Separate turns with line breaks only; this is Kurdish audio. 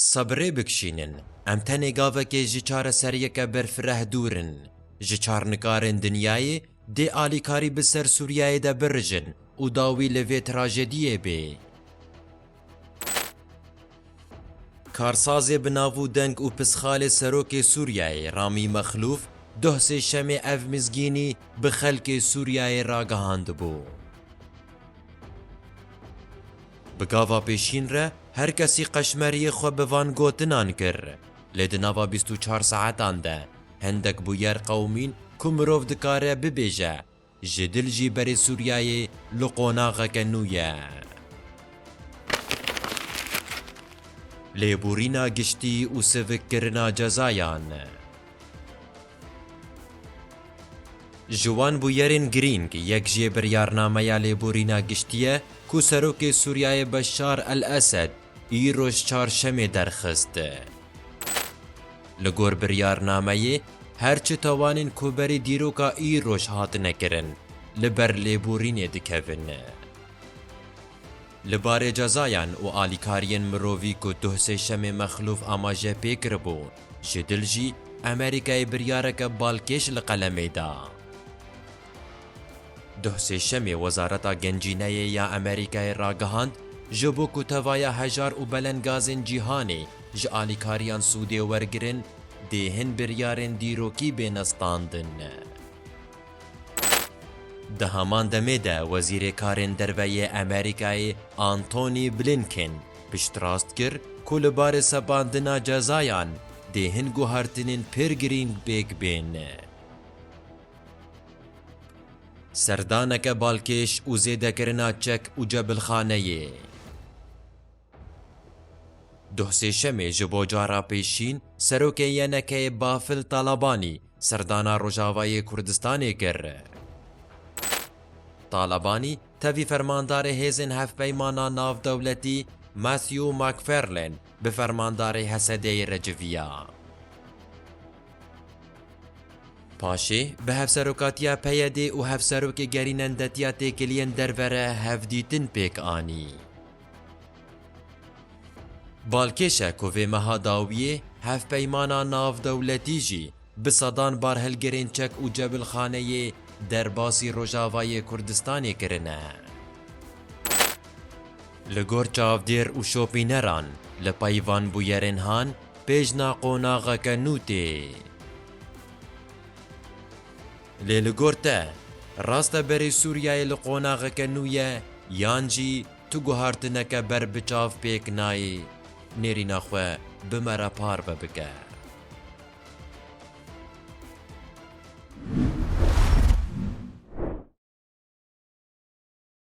Sebirê bikişînin, em tenê gavekê ji çareseriyeke berfireh dûr in. Ji çar nikarên dinyayê dê alîkarî bi ser Sûriyeyê de birijin û dawî li vê trajediyê bê. Karsazê bi nav û deng û pisxalê Serokê Sûriyeyê Ramî Mexlûf doh sêşemê ev mizgînî bi xelkê Sûriyeyê ragihandibû. Bi gava pêşîn re her kesî qeşmeriyê xwe bi van gotinan kir, lê di nava bîst û çar saetan de hindek bûyer qewimîn ku mirov dikare bibêje ji dil jî berê Sûriyeyê li qonaxeke nû ye. Lêborîna giştî û sivikkirina cezayan. Ji wan bûyerên girîng yek jî biryarnameya lêborîna giştî ye ku Serokê Sûriyeyê Beşar el-Esed îro ji Çarşemê derxist. Li gor biryarnameyê her çi tawanên ku berî dîroka îroj hatine kirin li ber lêborînê dikevin. Li barê cezayan û alîkariyên mirovî ku duh Sêşemê Mexlûf amaje pê kiribû, Ji dil jî Amerîkayê biryareke balkêş li qelemê da. Duh Sêşemê Wezareta Gencîneyê ya Amerîkayê ragihand, ji bo ku tevaya hejar û belengazên cîhanê ji alîkariyan sûdê wergirin, dê hin biryarên dîrokî bêne standin. Di heman demê de Wezîrê Karên Derve yê Amerîkayê Antony Blinken piştrast kir ku li barê sepandina cezayan dê hin guhertinên pir girîng pêk bên. Serdaneke balkêş û zêdekirina çek û cebilxaneyê. Duh Sêşemê ji bo cara pêşîn Serokê YNK'ê Bafil Talabanî serdana Rojavayê Kurdistanê kir. Talabanî tevî Fermandarê Hêzên Hevpeymana Navdewletî Matthew McFarlane bi Fermandarê Hesedeyê re civiya. Paşê bi Hevserokatiya PYD'ê û Hevserokê Gerînendetiya Têkiliyên Derve re hevdîtin pêk anî. Balkêşe ku vê meha dawiyê hevpeymana navdewletî jî bi sedan barhilgirên çek û cebilxaneyê derbasî Rojavayê Kurdistanê kirine. Li gor çavdêr û şopîneran li pey van bûyerên han pêjna qonaxeke nû tê. Lê li gor te, rast e berê Sûriyeyê li qonaxeke nû ye yan jî tu guhartineke ber bi çav pêk nayê nêrîna xwe bi me re parve bike?